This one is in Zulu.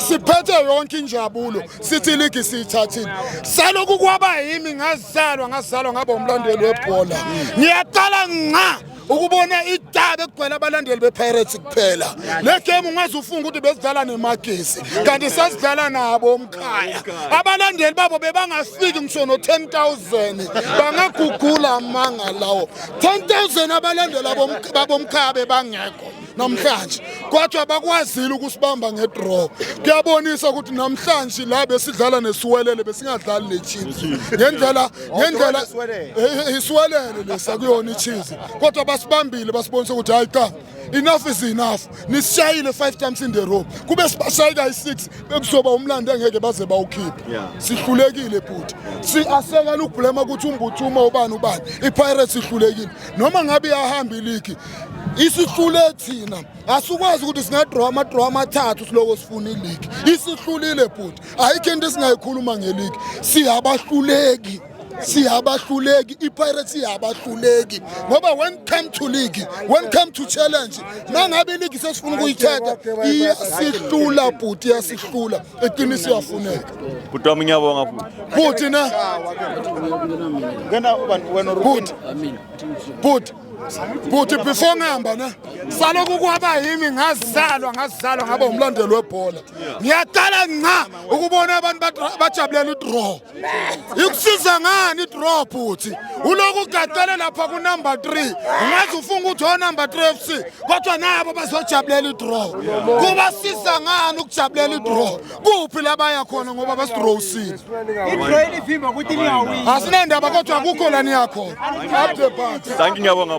siphethe yonke injabulo sithi iligi siyithathile saloku kwaba yimi ngazalwa ngazalwa ngaba umlandeli webhola ngiyaqala nqa ukubona idaba ekugcwele abalandeli bepirates kuphela le game ungaze ufunga ukuthi besidlala nemagesi kanti sasidlala nabo omkhaya abalandeli babo bebangafiki ngisho no-10000 bangagugula amanga lawo 10000 abalandeli babomkhaya bebangekho namhlanje kwathi abakwazile ukusibamba ngedraw kuyabonisa ukuthi namhlanje la besidlala nesiwelele besingadlali nechiefs ngendlela ngendlela isiwelele lesa kuyona ichiefs kodwa basibambile basibonisa ukuthi hayi cha enough is enough nisishayile five times in the row kube sibashaye kayi-six bekuzoba umlando engeke baze bawukhiphe sihlulekile bhuti si-asekela ukubhulema ukuthi umbuthuma ubani ubani ipirates ihlulekile noma ngabe iyahamba iligi isihlule thina asikwazi ukuthi singadrawa amadrawa amathathu siloko sifuna iligi isihlulile bhuti ayikho into esingayikhuluma ngeligi siyabahluleki siyabahluleki ipirates iyabahluleki ngoba when come to league when come to challenge nangabe iligi sesifuna ukuyithatha iyasihlula bhuti iyasihlula eqinisi iyafuneka bhuti wami ngiyabonga bhuti na bhuti bhuti Bhuti before ngihamba ne saloku kwaba yimi ngazalwa ngazalwa ngaba umlandeli webhola. Ngiyaqala nqa ukubona abantu bajabulela idraw. Ikusiza ngani idraw bhuti? Uloku ugadele lapha ku number 3. Ungathi ufunga ukuthi o number 3 FC kodwa nabo bazojabulela idraw. Kubasiza ngani ukujabulela idraw? kuphi la baya khona ngoba basidrowsile asinendaba kodwa akukho la niyakhona thank you ngiyabonga